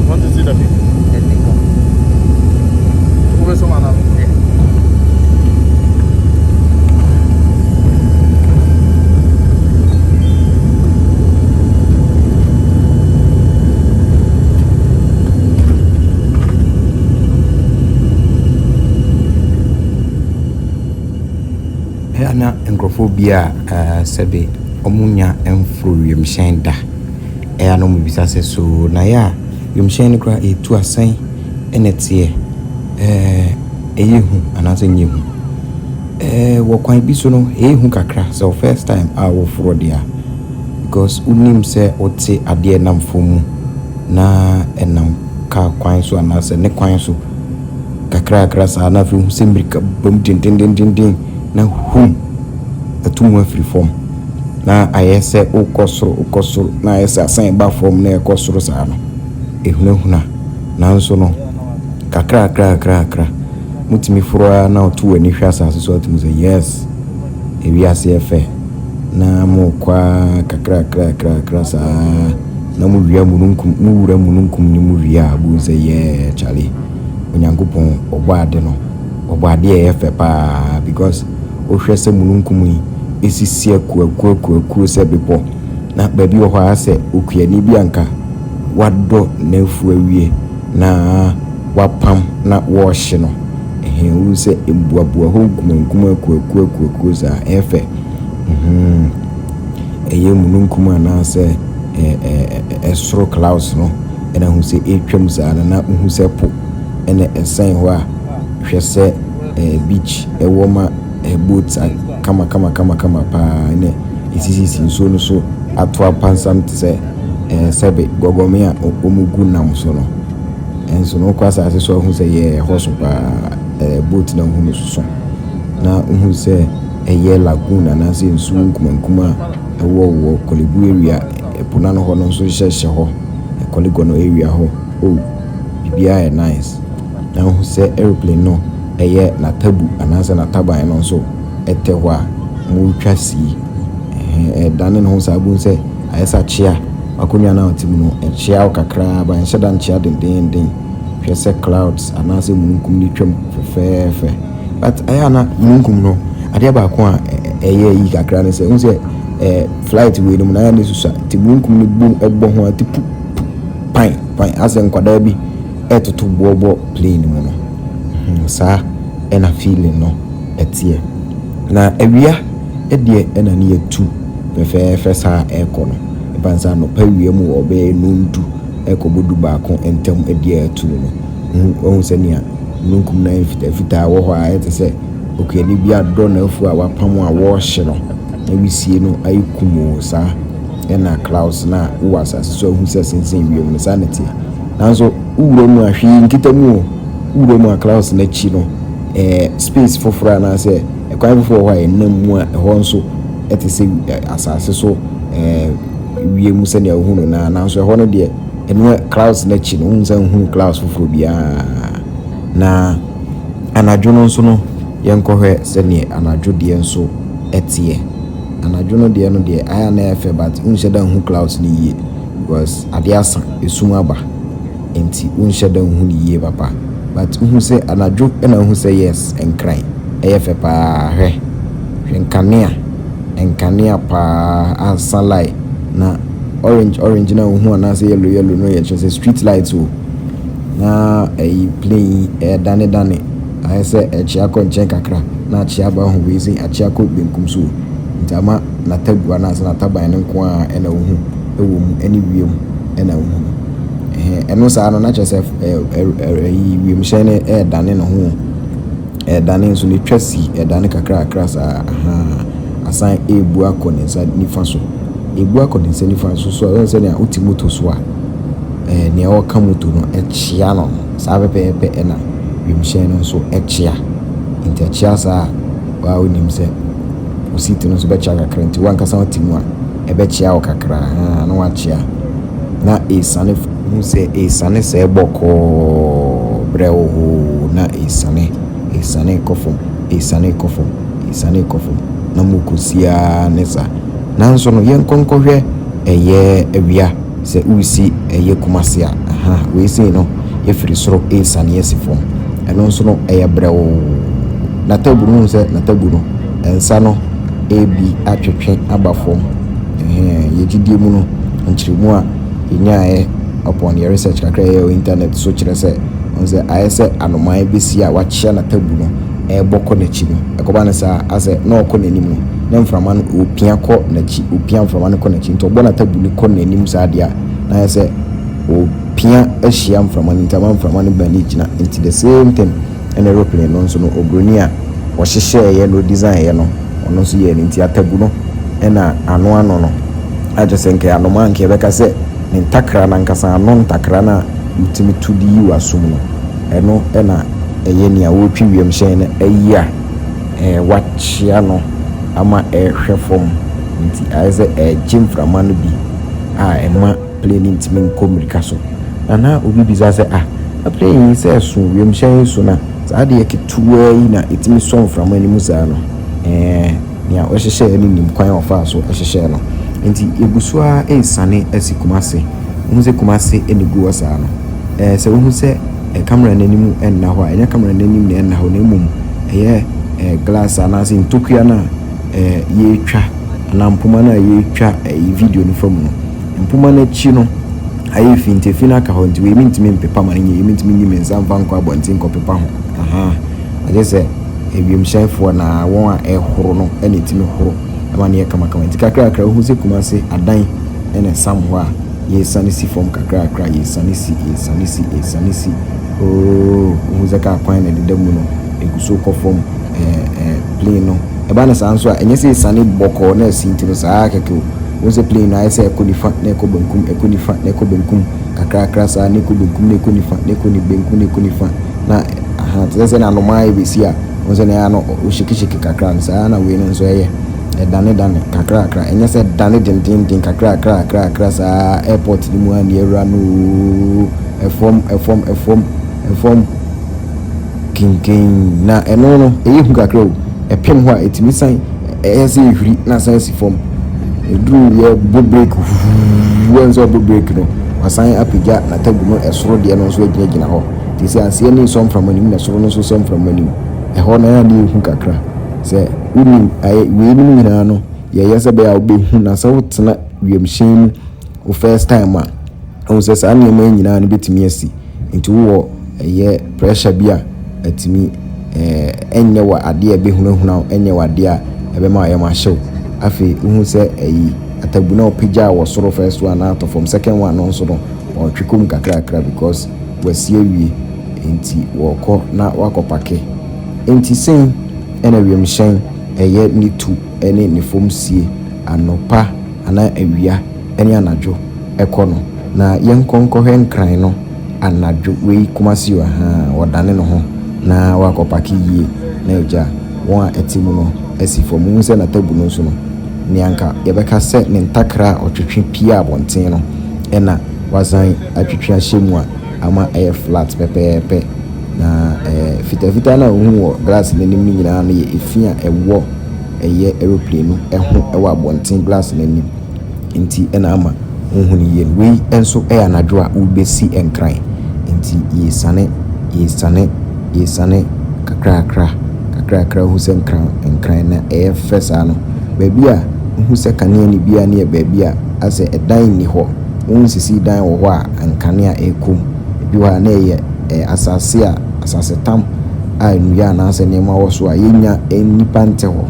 Wɔn tete da bi mu nni hɔ. Wobɛsɔ mana no ɛ. na nkurɔfoɔ bi a sɛbe wɔnya mforo wiemhyɛn da. Ɛa na ɔmo bisa sɛ so na yɛ a wiemhyɛn no koraa etu a sɛn na ɛteɛ? Ɛɛ ɛyɛ hu anaasɛ ɛnyɛ hu? Ɛɛ wɔ kwan bi so no ɛyɛ hu kakra sɛ wo first time a wo forɔ deɛ a because wo nim sɛ wo te adeɛ ɛnam fɔm mu na ɛnam car kwan so anaasɛ ne kwan so kakra kakra saa na afei wo hu sɛ mirika ba mu dendendenden na hum atu mu afiri fɔm. na ayɛ sɛ wokɔ soro, wokɔ soro, na ayɛ sɛ asan ba fam na ɛkɔ soro saa no, ɛhunahuna. Nanso no, kakrakra, kakrakra, motumi foro ara na woto w'ani hwɛ asase so a, wotumi sɛ, Yes, ewiase yɛ fɛ. Na morekɔ ara kakrakra, kakrakra saa na mowia mununkum, mowura mununkum no mu wie a, bohu sɛ, Yeah, kyale, Onyankopɔn, ɔbɔɔ ade no. Wɔbɔ adeɛ a ɛyɛ fɛ paa because wohwɛ sɛ mununkum yi ɛsisi akuakuakuakuo sɛ bepɔ na baabi wɔ hɔ ara sɛ okuani bi a anka wadɔ n'afuo awie na wapam na wɔrehye no ɛhee wohu sɛ mbuabua hɔ nkumankumaa akuakuakuakuo saa ɛyɛ fɛ mm-hmm ɛyɛ mununkum anaa sɛ ɛsoro clouds no ɛna hu sɛ ɛretwam saa no na wohu sɛ po ɛna ɛsɛn hɔ a. Hwɛ sɛ eh beach ɛwɔ ma eh boats a kama kama kama kama paa na esisisi nsuo no so ato apansam te sɛ eh sɛbe gɔgɔme a wɔgu nam so no. Nso no wokɔ asase so a wohu sɛ yeah ɛhɔ so paa eh boat no a wohu no soso na wohu sɛ ɛyɛ lagoon anaasɛ nsuo nkuma nkuma a ɛwɔ wɔ Korle Bu area ɛpo no ano hɔ no nso hyɛ hyɛ hɔ eh Korle Gonno area hɔ oh biribiara yɛ nice. Anhu sɛ aeroplane no ɛyɛ n'atabu anaasɛ n'ataban no nso ɛtɛ hɔ a motwa sii ɛhɛn ɛdane ne ho saa bohu sɛ ayɛ sɛ akyea w'akonnwa no a wote mu no ɛkyea wo kakraa but ɛnhyɛ da nkyea dendeenden hwɛ sɛ clouds anaasɛ mununkum no twam fɛfɛɛfɛ. But ɛyɛ a na mununkum no adeɛ baako a ɛyɛ yie kakra ne sɛ wohu sɛ ɛɛ flight wei no mu no ayɛ a na ɛsusua nti mununkum no bom ɛbɔ ho a ɛte pu pu pan pan ayɛ sɛ nkwadaa bi ɛtoto boɔ bɔ plane mu no saa ɛna feeling no ɛteɛ na awia deɛ ɛna ne yɛtu fɛfɛɛfɛ saa ɛkɔ no ɛbane sɛ anɔpa awia mu wɔ bɛyɛ num du ɛkɔ bɔ du baako ntam deɛ ɛtu no no wahu sɛ nea mununkum no ayɛ fitaa fitaa wɔ hɔ a ayɛ te sɛ okuani bi adɔ n'afu a wapam a wɔɔhye no na wisie no ayɛ kumoo saa ɛna clouds no a wowɔ asase so ahu sɛ sensɛn wiem no saa ne teɛ Nanso wo wura mu a hwee nkita mu o, wo wura mu a Klaus no akyi no ɛɛ space foforɔ anaasɛ ɛkwan foforɔ wɔ hɔ a yɛnam mu a ɛhɔ nso ɛte sɛ asase so ɛɛ wiem mu sɛdeɛ wohu no naa nanso ɛhɔ no deɛ ɛno a Klaus no akyi no wonsan nhunu Klaus foforɔ biara na anadwo no nso no yɛnkɔhwɛ sɛdeɛ anadwo deɛ nso ɛteɛ anadwo no deɛ no deɛ ayɛ a na ɛyɛ fɛ but wonhyɛ da nhu Klaus no yie. Because ade asa, esum aba nti wonhyɛ da nhu no yie papa but wohu sɛ anadwo na wohu sɛ yes Nkran ɛyɛ fɛ paa hwɛ hwɛ nkanea nkanea paa ansa lai na orange orange no a wohu anaasɛ yellow yellow no yɛ kyerɛ sɛ street light o na ɛyi plane yi ɛdane dane ayɛ sɛ ɛkyea kɔ nkyɛn kakra na akyea aba ho wei sɛ akyea kɔ benkum so o nti ama n'atagua no ansa n'ataban no nko ara na ohu wɔ mu ne wiem na ohu no. Ɛhɛn, ɛno saa no na kyerɛ sɛ ɛyi wiemhyɛn no ɛredane ne ho, ɛredane nso ne twa si ɛredane kakrakra saa ahaa asan ɛrebu akɔ ne nsa nifa so. Ɛrebu akɔ ne nsa nifa so so a ɛyɛ sɛ nea wote moto so a ɛɛ nea ɔka moto no ɛkyea no no saa pɛpɛɛpɛ ɛna wiemhyɛn no nso ɛkyea. Nti ɛkyea saa a waa wonim sɛ wo seat no nso bɛkyea kakra nti w'ankasa wote mu a ɛbɛkyea wo kakra haa na wakyea na ɛresiane hu sɛ ɛresiane sɛɛ bɔkɔɔ berɛ wo hoo na ɛresiane ɛresiane kɔ fam ɛresiane kɔ fam ɛresiane kɔ fam na mokɔsiaa ne saa nanso no yɛnkɔ nkɔhwɛ ɛyɛ awia Sɛ woresi ɛyɛ Kumasi a, ahaa, wei sei no ɛfiri soro ɛresiane asi fam. Ɛno nso no ɛyɛ brɛoo. N'atabu no, wohu sɛ n'atabu no, nsa no ɛrebi atwetwe aba fam. Ɛhɛɛ, yɛn gyidie mu no, nkyerɛmu a yɛnyaeɛ upon yɛn research kakra a yɛyɛɛ wɔ internet so kyerɛ sɛ, wohu sɛ ayɛ sɛ anomaa bɛsi a wakyea n'atabu no ɛrebɔ kɔ n'akyi no, ɛkɔba no saa a, asɛ na ɔrekɔ n'anim no, na mframa no ɔrepia kɔ n'akyi, ɔrepia mframa no kɔ n'akyi nti ɔbɔ n'atabu no kɔ n'anim saa deɛ a na ayɛ sɛ ɔrepia ahyia mframa no nti ama mframa no bɛn no gyina nti the same thing ɛna aeroplane no nso no oburoni a ɔhyehyɛeɛ na ɔdesignɛɛ no ɔno nso yɛɛ no nti atabu no ɛna ano ano no agye sɛ nka anoma anka yɛbɛka sɛ ne ntakra no ankasa ano ntakra no a wotumi to de yi w'asom no ɛno ɛna ɛyɛ nea ɔretwe wiemhyɛn no ayi a wɔakyea no ama ɛrehwɛ fam nti, ayɛ sɛ ɛregye mframa no bi a ɛma plane no ntumi nkɔ mmirika so. Na na obi bisa sɛ, Ah, na plane yi sɛ ɛso, wiemhyɛn yi so, na saa adeɛ ketewaa yi na ɛtumi sɔ mframa no mu saa no? Ɛɛ, nea ɔhyehyɛeɛ no nim kwan a ɔfaa so hyehyɛɛ no. Nti yɛgu so ara resiane asi Kumasi. Wohu sɛ Kumasi na ɛgu hɔ saa no? Ɛɛ, sɛ wohu sɛ. camera no anim nna hɔ a, ɛnyɛ camera no anim na ɛnna hɔ na mmom ɛyɛ glass anaasɛ ntokua no a yɛretwa anaa mpoma no a yɛretwa video no fa mu no. Mpoma no akyi no ayɛ fi nti efi no aka hɔ nti wei mentumi mpepa ma no nyɛ yie, mentumi nyi me nsa mfa nkɔ abɔnten nkɔpepa ho. Ahaa, agye sɛ wiemhyɛnfoɔ anaa wɔn a ɛhoro no na ɛtumi horo ma no yɛ kamakama. Nti kakrakra wohu sɛ Kumasi adan na ɛsam hɔ a, Yɛresane si fam kakrakra, yɛresane si, yɛresane si, yɛresane si, ooh, wohu sɛ kaa kwan na ɛdeda mu no, ɛgu so rekɔ fam, ɛɛ, ɛɛ, plane no, ɛba no saa nso a, ɛnyɛ sɛ ɛresiane bɔkɔɔ na asi nti no, saa ara kɛkɛ o. Wohu sɛ plane no ayɛ sɛ ɛrekɔ nifa na ɛrekɔ benkum, ɛrekɔ nifa na ɛrekɔ benkum, kakrakra saa, na ɛkɔ benkum na ɛkɔ nifa, na ɛkɔ ni, benkum na ɛkɔ nifa, na, ahaa, te sɛ sɛdeɛ anomaa rebɛsi a, wohu sɛ na ɛyɛ a na ɔhyekyehyeke kakra no, saa ara na wei no nso ɛyɛ. Ɛdanedane kakrakra, ɛnyɛ sɛ ɛdane dendeenden, kakrakra, kakrakra saa ara, airport no mu ara ni, awura no oo, ɛfɔm, ɛfɔm, ɛfɔm, ɛfɔm, kenken, na ɛno no, ɛyɛ hu kakra o, ɛpem hɔ a, ɛtumi san, ɛyɛ sɛ ɛhuri na asan si fɔm, ɛduru yɛ bɔ break huuuuuu, woahu sɛ ɔbɔ break no, wasan apagya n'atagu no, ɛsoro deɛ no nso agyinagyina hɔ, te sɛ aseɛ ani resɔ mframa no mu na ɛsoro no nso resɔ mframa no mu, ɛhɔ no ɛyɛ a na ɛyɛ hu kakra, sɛ. wonim ayɛ weinom nyinaa no yɛ yɛ sɛ bɛyɛ a wobɛhu na sɛ wotena wiemhyɛn mu wo first time a wohu sɛ saa nneɛma yi nyinaa no bɛtumi asi nti wowɔ ɛyɛ pressure bi a atumi ɛnyɛ wɔ adeɛ a ɛbɛhunahuna wo ɛnyɛ wɔ adeɛ a ɛbɛma ayɛ ma ahyew afei wohu sɛ ayi atabu na wopagyaa wɔ soro first one na atɔ fam second one no nso no wɔtwe kɔm kakrakra because wasi awie nti wɔkɔ na wakɔ pake nti sɛn Ɛna wiemhyɛn ɛyɛ ne tu ne ne fam sie anɔpa anaa awia ne anadwo ɛkɔ no na yɛnkɔ nkɔhwɛ nkran no anadwo wei Kumasi o ahaa ɔdane ne ho na wakɔ pake yie na agya wɔn a ɛte mu no asi fam wohu sɛ natabu no nso no nea nka yɛbɛka sɛ ne ntakra a ɔtwetwe pie abɔnten no ɛna wasan atwetwe ahyɛ mu a ama ayɛ flat pɛpɛɛpɛ, na ɛɛ, fitafitaa no a wuhu wɔ glass no anim no nyinaa no yɛ efi a ɛwɔ ɛyɛ aeroplane no ho wɔ abɔnten glass no anim nti na ama wuhu no yie no. Wei nso yɛ anadwo a wobesi nkran nti yesiane, yesiane, yesiane kakrakra, kakrakra hu sɛ nkran, nkran na ɛyɛ fɛ saa no. Baabi a wuhu sɛ kanea nni biara no yɛ baabi a asɛ dan nni hɔ. Wonsisii dan wɔ hɔ a nkanea rekɔ mu. Ebi wɔ hɔ a, na ɛyɛ asase a asasetam a nnua anaasɛ nneɛma wɔ so a yennya nnipa nte hɔ.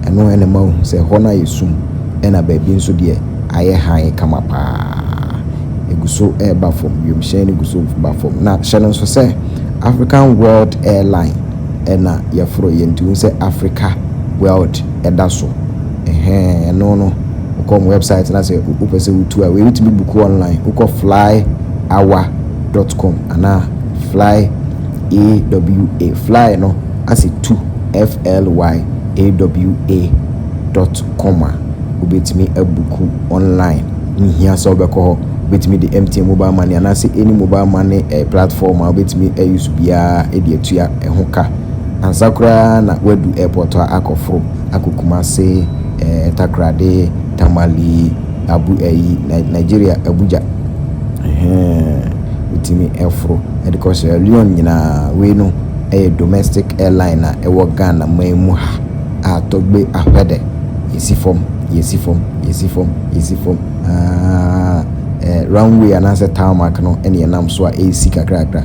Ɛno na ɛma wuhu sɛ hɔ no ayɛ sum, ɛnna baabi nso deɛ, ayɛ hann kama paa. Egu so reba fam, wimhyɛn no gu so ba fam. Na hyɛ no nso sɛ African World Airline na yɛforo yɛ, nti wohu sɛ Africa World da so. Ɛhɛɛ ɛno no wokɔ wɔn website na sɛ wopɛ sɛ wotu a wei wotumi buku online wokɔ flyawa dot com anaa fly awa fly no ase tu flyawa dot com a wobɛtumi abuku online nhia sɛ wobɛkɔ hɔ wobɛtumi de MTN mobile money anaasɛ any mobile money eh, platform a wobɛtumi ayusu biara de atua ɛho ka ansa koraa na wadu airport a akɔforo akɔ Kumasi, eh, Takoradi, Tamale, Abu ayi, Nigeria, Abuja. Ɛhɛn, wotumi foro de kɔ Sierra Leone nyinaa. Wei no yɛ domestic airline a ɛwɔ Ghana man mu ha a tɔgbe ahwɛdɛ, yɛsi fam, yɛsi fam, yɛsi fam, yɛsi fam, aa, eh, runway anaasɛ tarmac no na yɛnam so a ɛresi kakrakra.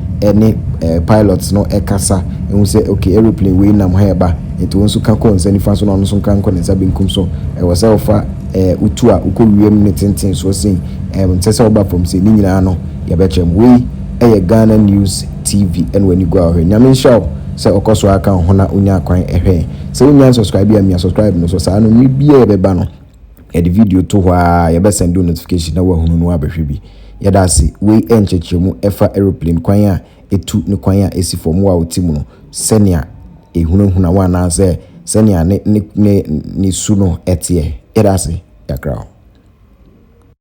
ne eh pilots no ɛkasa ehu sɛ okay aeroplane wei nam ha ɛba nti wo nso ka kɔ nsa nifa so na ɔno nso nka nkɔ ne nsa benkum so ɛwɔ sɛ wo fa eh wo tu a wo kɔ wia mu ne tenten soɔ sei ɛm nsɛ sɛ wo ba fam sei ne nyinaa no yɛ bɛ kyerɛ mo wei ɛyɛ Ghana news TV ɛna w'ani gu a hwɛ Nyame nhyira wo sɛ ɔkɔ so ara ka wo ho na wo nya akwan ɛhwɛ yɛn sɛ wo nnya nsɔscribe a mia sɔscribe no so saa no mmerɛ biaa yɛ bɛ ba no. Yɛde video to hɔ aa yɛbɛ sɛnde wo notification na wahunu na wabɛhwɛ bi. Yɛda ase. Wei yɛ nkyerɛkyerɛmu ɛfa aeroplane kwan a ɛtu ne kwan a ɛsi fam wo a wote mu no sɛnea ɛhunahuna wo anaasɛ sɛnea ne ne ne ne su no ɛteɛ. Yɛda ase kakra o.